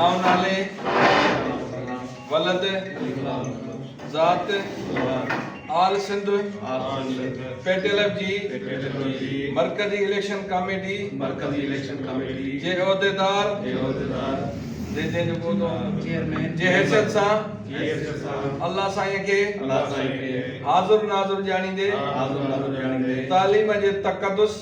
آئون نالي ولد ذات آل سنڌ پيٽلف جي مرڪزي اليڪشن ڪاميٽي جي عهديدار جي حيثيت سان الله سائين کي حاضر ناظر ڄاڻيندي تعليم جي تقدس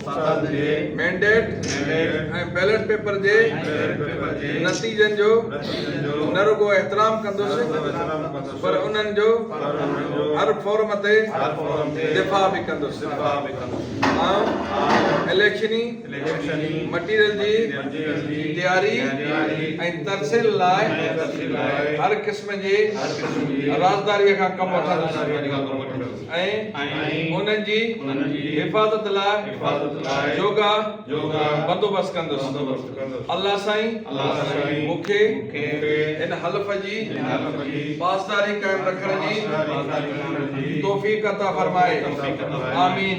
سندن جي مينڊيٽ ۽ بيلٽ پيپر جي نتيجن جو نه رڳو احترام ڪندس پر انهن جو هر فورم تي دفاع به ڪندس. آئون اليڪشني مٽيريل جي تياري ۽ ترسيل لاء هر قسم جي رازداريء کان ڪم وٺندس. ۽ انهن جي حفاظت لاء جوڳا بندوبست ڪندس. الله سائين مون کي هن حلف جي پاسداري قائم رکڻ جي توفيق عطا فرمائي. آمين.